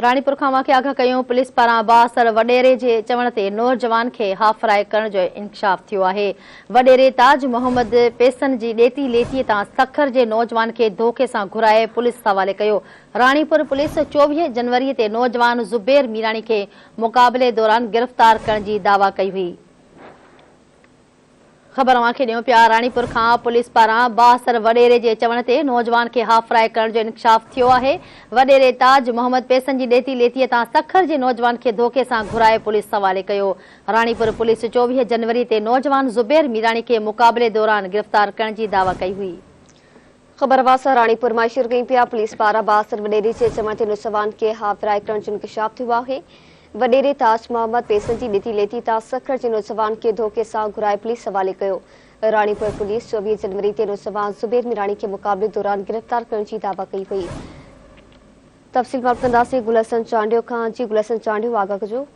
راڻيپور کان واقعا آگاهه ڪيون پوليس پاران بااثر وڏيري جي چوڻ تي نورجوان کي هاف فراء ڪرڻ جو انڪشاف ٿيو آهي وڏيري تاج محمد پيسن جي ڏيتي ليتي تان سکر جي نوجوان کي ڌوڪي سان گهرائي پوليس حوالي ڪيو راڻيپور پوليس چوويهه جنوري تي نوجوان زبير ميراڻي کي مقابلي دوران گرفتار ڪرڻ جي دعويٰ ڪئي هئي. خبر اوهان کي ڏيون پيا راڻيپور کان پوليس پاران بااثر وڏيري جي چوڻ تي نوجوان کي هاڦراء ڪرڻ جو انڪشاف ٿيو آهي وڏيري تاج محمد پيسن جي ڏيتي ليتي تان سکر جي نوجوان کي ڌوڪي سان گهرائي پوليس حوالي ڪيو راڻيپور پوليس چوويهه جنوري تي نوجوان زبير ميراڻي کي مقابلي دوران گرفتار ڪرڻ جي دعويٰ ڪئي هئي. خبر واسا راڻيپور مان شيئر ڪيون پيا پوليس پاران بااثر وڏيري جي چوڻ تي نوجوان کي ها ورائي ڪرڻ جو انڪشاف ٿيو آهي وڏيري تاج محمد پيسن جي ڏتي ليتي تان سکر جي نوجوان کي ڌوڪي سان گهرائي پوليس حوالي ڪيو راڻيپور پوليس چوويهه جنوري تي نوجوان زبير ميراڻي کي مقابلي دوران گرفتار ڪرڻ جي دعويٰ ڪئي هئي تفصيل معلوم ڪنداسين گل حسن چانڊيو کان جي گل حسن چانڊيو آگاهه ڪجو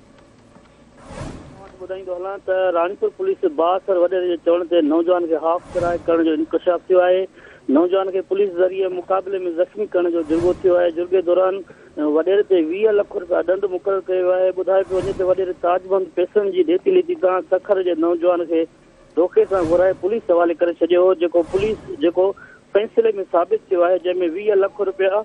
اوهان کي ٻڌائيندو هلان ته راڻيپور پوليس بااثر وڏيري جي چوڻ تي نوجوان کي هاف ڪرائي ڪرڻ جو انڪشاف ٿيو آهي نوجوان کي پوليس ذريعي مقابلي ۾ زخمي ڪرڻ جو جرڳو ٿيو آهي جرڳي دوران وڏيري تي ويهه لک رپيا ڏنڊ مقرر ڪيو ويو آهي ٻڌايو پيو وڃي ته وڏيري تاج محمد پيسن جي ڏيتي ليتي تان سکر جي نوجوان کي دوکي سان گهرائي پوليس حوالي ڪري ڇڏيو هو جيڪو پوليس جيڪو فيصلي ۾ ثابت ٿيو آهي جنهن ۾ ويهه لک رپيا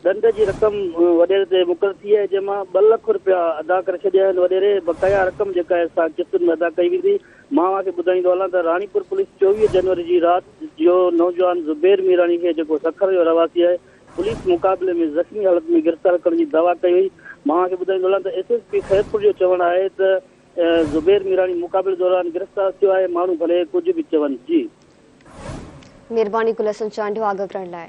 ڏنڊ جي رقم وڏيري تي مقرر ٿي آهي جنهن مان ٻه لک رپيا ادا ڪري ڇڏيا آهن وڏيري بقايا رقم جيڪا آهي سا قسطن ۾ ادا ڪئي ويندي مان اوهان کي ٻڌائيندو هلان ته راڻيپور پوليس چوويهه جنوري جي رات جو نوجوان زبير ميراڻي کي جيڪو سکر جو رهواسي آهي پوليس مقابلي ۾ زخمي حالت ۾ گرفتار ڪرڻ جي دعويٰ ڪئي وئي مان اوهان کي ٻڌائيندو هلان ته ايس ايس پي خيرپور جو چوڻ آهي ته زبير ميراڻي مقابلي دوران گرفتار ٿيو آهي ماڻهو ڀلي ڪجهه به چون جي مھرباني گل حسن چانڊيو آگه ڪرڻ لاء.